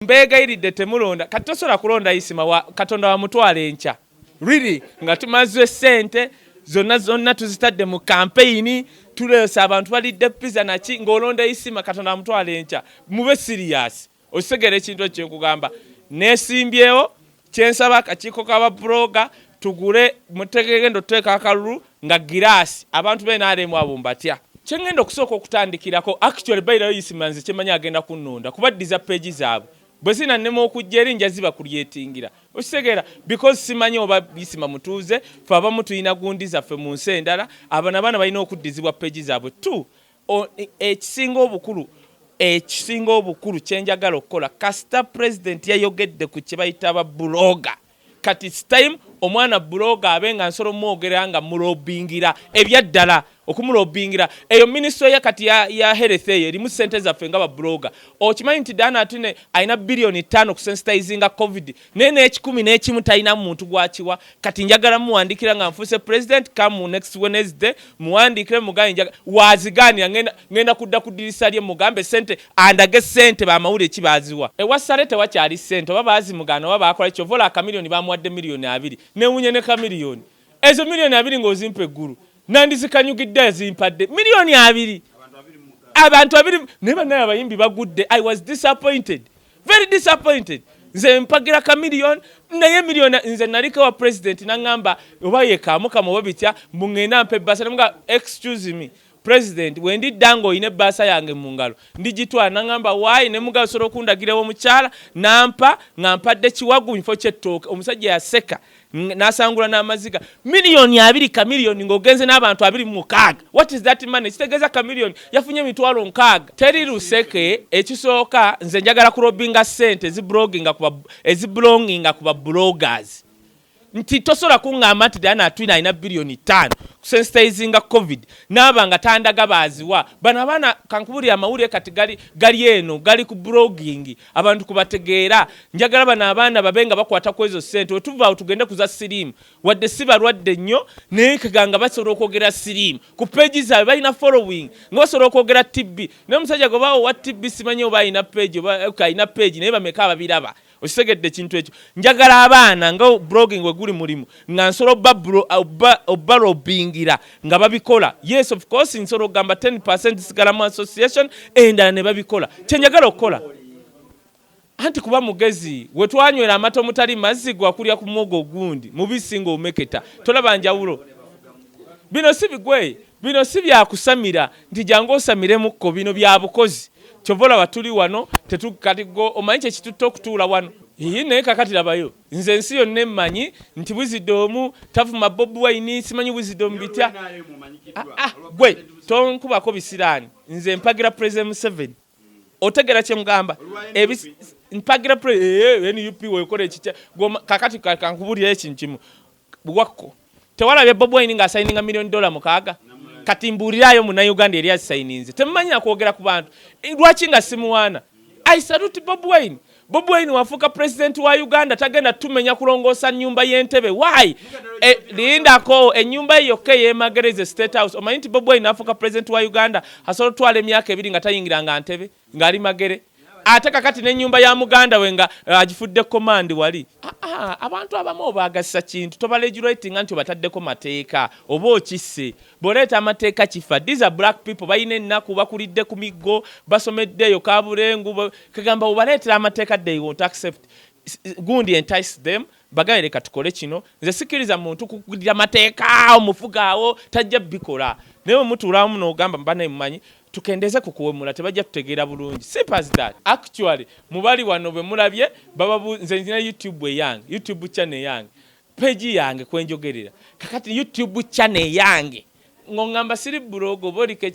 mbeegayiridde temulonda kati tosobola kulonda isima wa katonda wamutwala enkya really nga tumaze sente zonna zonna tuzitadde mu kampeyini tuleese abantu balidde piza naki ng'olonda isima katonda wamutwala enkya mube siriyasi okitegera ekintu ekyo kyenkugamba nesimbyewo kyensaba akakiiko ka babuloga tugule mutegegenda otuteeka akalulu nga giraasi abantu benaremu abo mbatya kyengenda okusooka okutandikirako actually bayirayo isimanzi kyemanyi agenda kunnonda kubaddiza peegi zaabwe bwe zinannema okujja eri nja ziba kulyetingira okitegeera because simanyi oba isima mutuuze fe abamu tulina gundi zaffe mu nsi endala abana abaana balina okuddizibwa peegi zaabwe t ekisinga obukulu ekisinga obukulu kyenjagala okukola kasita president yayogedde ku kyebayita ba buloga kati its time omwana buloga abe nga nsolo mwogera nga mulobingira ebyaddala okumulobingira eyo minisito ye kati ya, ya health eyo erimu sente zaffe nga babuloga okimanyi nti dana atine alina biliyoni ttaano kusensitizinga covid naye n'ekikumi n'ekimu talinamu muntu gwakiwa kati njagala muwandiikira nga nfuuse president kamu next wednesday muwandiikire mugambe njaga wazigaanira ngenda kudda ku ddirisa lye mugambe sente andage sente bamawulire ki baaziwa ewa sale tewakyali sente oba baazimugaana oba baakola kyova ola akamiliyoni bamuwadde miliyoni abiri newunya ne kamiliyoni ezo miliyoni abiri ng'ozimpa eggulu nandizikanyugidde azimpadde miliyoni abiri abantu abiri naye banaye abayimbi bagudde i was disappointed very disappointed nze mpagira ka million naye million nze nalike wa president nangamba oba yekamu kama oba bitya mungenda mpe basa namuga excuse me president wendi dango ine basa yange mungalo ndijitwa nangamba why ne muga soro kundagire wo muchala nampa ngampa de chiwagu info chetoke omusajja yaseka nasangula n'amaziga miliyoni abiri kamiliyoni ng'ogenze n'abantu abiri mukaaga what is that money kitegeeza kamiliyoni yafunye emitwalo nkaaga teri luseke ekisooka nze njagala kurobinga sente ezibulonginga ku babulogas nti tosobola kuŋŋamba nti dana atwina alina biliyoni ttaano kusensitizinga covid naaba nga tandaga baaziwa bano abaana kankubulira amawulire kati gali eno gali ku bulogingi abantu kubategeera njagala bano abaana babe nga bakwata ku ezo ssente wetuvaawo tugende ku za siriimu wadde si balwadde nnyo naye kaganga basobola okwogera siriimu ku peegi zaabwe balina following nga basobola okwogera tibbi naye omusajja gwe baawo wa tibbi simanyi oba alina peegi oba eh, alina peegi naye bameka ababiraba okitegedde ekintu ekyo njagala abaana nga blogging weguli mulimu nga nsolo obalobingira nga babikola yes of course nsolo ogamba 10 percent sigala mu association endala ne babikola kyenjagala okukola anti kuba mugezi wetwanywera amata omutali mazzi gwakulya ku mwogo ogundi mubisi nga omeketa tolaba njawulo bino si bigwe bino si byakusamira nti jangu osamiremukko bino bya bukozi kyova olaba tuli wano tetukati go omanyi kyekitutte okutuula wano iyi naye kakati labayo Nze ensi yonna emmanyi nti buzidoomu tavuma bobi wayini simanyi buzidoomu bitya ah, ah, gwe tonkubako bisiraani nze mpagira president museveni otegera kyemugamba mpagira eh, eh, nup wekola ekitya kakati kankubulira ekintu kimu Wakko tewalabye Bob Wine nga asayininga million dollar mukaaga kati mbuuliraayo munauganda eri azisayininze temumanyira kwogera ku bantu eh, lwaki nga simuwaana i salute Bob Wine Bob Wine wafuuka president wa Uganda tagenda tumenya kulongoosa nyumba y'entebe why e, lindako enyumba ye yokka eyemagereze state house omanyi nti Bob Wine afuuka president wa Uganda asobola otwala emyaka ebiri nga tayingiranga ntebe ngali magere ate kakati nenyumba ya muganda we nga eh, agifudde komandi wali ah, ah, abantu abamu obagasa kintu tobalegulatinga nti obataddeko mateeka oba okisse boleeta amateeka kifa these are black people balina ennaku bakulidde ku miggo basomedde eyo kabulengu kagamba obaleetera amateeka they won't accept gundi entice them Bagale leka tukole kino nze sikiriza muntu kukugirira mateeka omufuga awo tajja bikola naye omutuulamu nogamba mubanaye mumanyi tukendeze ku kuwemula tebajja tutegeera bulungi simple as that actually mubali wano bemulabye bababu nze nzina youtube eyange youtube channel eyange peji yange kwenjogerera kakati youtube channel eyange ngongamba siri bulogo boliko